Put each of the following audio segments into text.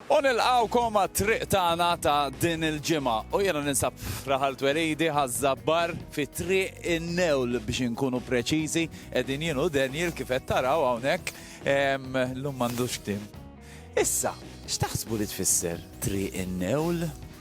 U nilqgħukom għat-triq tagħna ta' din il-ġimgħa. U jiena ninsab f'Raħal Twelidi, Ħaż-Żabbar, fi Triq in-Newl biex inkunu preċiżi. Qegħdin jien u Daniel kif qed taraw hawnhekk. Llum m'għandux tim. Issa, x'taħsbu li tfisser Triq in-Newl?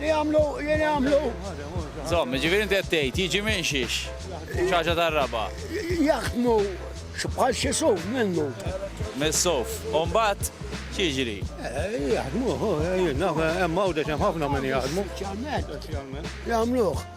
Li għamlu, jien għamlu. Zom, ġifiri inti għattejt, jiġi minn xiex, ċaġa tar-raba. Jaħdmu bħal xie suf minnu. Mis-suf, umbat ċiġri. Eh, jaħdmu, eh, eh, jimma u deċem ħafna minn jaħdmu. Jgħamluħ.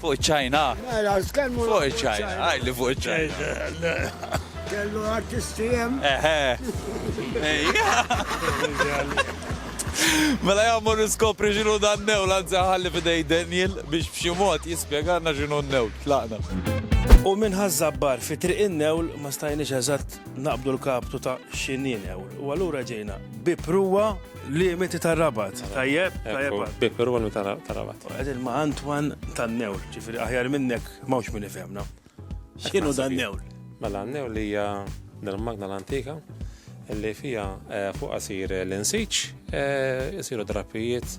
Fuq iċ-Ċajna? Mela, tkellmu fuq iċ-Ċajna. Għaj li fuq iċ-Ċajna. Kellu artisti hemm. Eħe. Mela jgħammu niskopri xinu dan new, lanza ħalli fidej Daniel biex b'xi mod jispjegalna xinu new, tlaqna. U minn ħaż-żabbar fi triq in-newl ma stajniex eżatt naqbdu l-kaptu ta' x'inhi newl. U allura ġejna bi pruwa Limiti ta' rabat. Tajjeb, tajjeb. Bikur u ta' rabat. Għedin ma' Antwan ta' newl, ġifiri aħjar minnek mawx minn ifemna. Xinu ta' newl? Mela newl li hija dal-magna l-antika li fija eh, fuq asir l-insiċ, jisiru eh, drapijiet,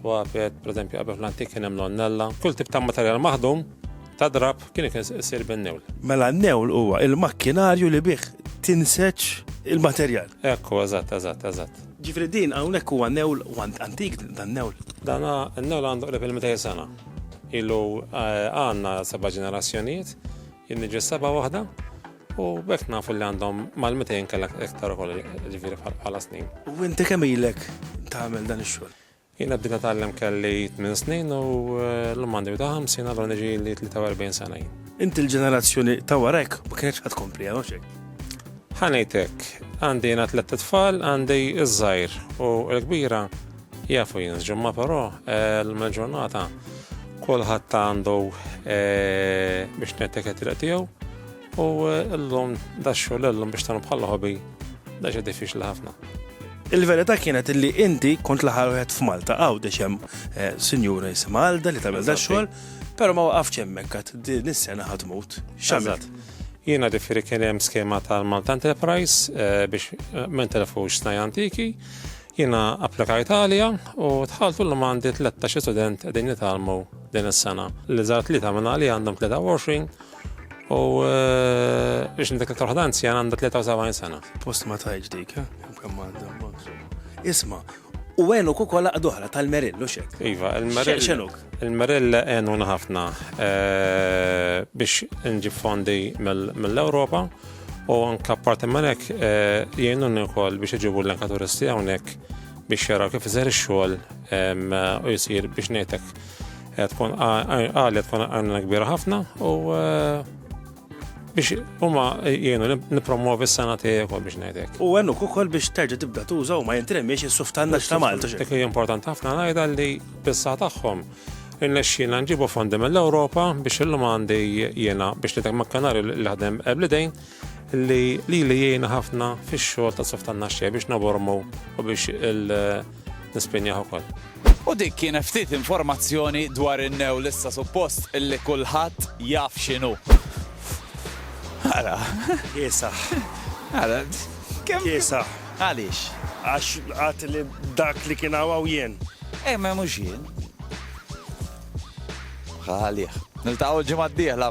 twapet, per eżempju, għabef l-antik kien hemm l-onnella, kull tip ta' materjal maħdum ta' drab kien ikun isir bin-newl. Mela n-newl huwa il-makkinarju li bih tinseċ il-materjal. Ekku, eżatt, eżatt, eżatt. Ġifri din hawnhekk huwa newl want antik dan newl. Dan n-newl għandu qrib il-200 sena. Ilu eh, għandna seba' ġenerazzjonijiet, jinniġi seba' waħda, u bekk nafu li għandhom mal-200 kellek iktar ukoll ġifieri bħala snin. U inti kemm ilek tagħmel dan ix-xogħol? Jiena bdejt nitgħallem kelli tmien snin u llum għandi wita' ħamsin allura niġieli 43 sena jien. Inti l-ġenerazzjoni ta' wara hekk ma kinitx qed tkompli għal xejn. Ħa ngħid hekk, għandi jiena tlett itfal, għandi ż-żgħir u l-kbira jafu jien żġumma però llum il-ġurnata kulħadd għandu biex ngħidlek it-triq tiegħu. U llum daxxu l-llum biex tagħmlu bħal ħobi daġa diffiċli ħafna. Il-verità kienet li inti kont l-aħħar wieħed f'Malta għaw hemm eh, sinjura jisimha Alda li tagħmel da xogħol, però ma waqafx hemmhekk għad din is-sena ħadd mut. X'għamilt? Jiena differi kien hemm skema tal-Malta Enterprise eh, biex eh, ma telefux snaj antiki. Jiena applika Italja u tħaltu l għandi 13 student qegħdin jitalmu din is-sena. Li żgħar tlieta minn li għandhom 23 U biex nindik aktar waħda anzjana għandha 73 sena. Post ma tajġ dik, eh? Kemm għandha. Isma, u għenu kukola għadohra tal-merill, u xek. Iva, il-merill. Xenuk. Il-merill għenu ħafna eh, biex nġib fondi mill-Europa u anka parti minnek eh, jgħinu n-nikol biex iġibu l-anka turisti għonek biex jaraw kif iżer xol u jisir biex nejtek Tkun għalja tkun għajna kbira ħafna u biex huma jienu nipromovi s-sena tiegħek biex ngħidlek. U għennu ukoll biex terġa' tibda tuża u ma jintremiex is-suf tan ta' Malta. Dik hija importanti ħafna ngħidha li bissa tagħhom irnexxina nġibu fondi mill-Ewropa biex illum għandi jiena biex nitek ma' kanari li ħadem eblidejn li li li jiena ħafna fix-xogħol ta' suf tan biex nabormu u biex il- nispinjah ukoll. U dik kienet ftit informazzjoni dwar in-new li issa suppost illi kulħadd jaf x'inhu. Ara. Kiesaħ. Ara. Kemm kiesaħ. Għaliex? Għax għat li dak li kien għaw jien. Ej, eh, ma mhux jien. Għalih. Niltaqgħu l-ġimgħa d-dieħla.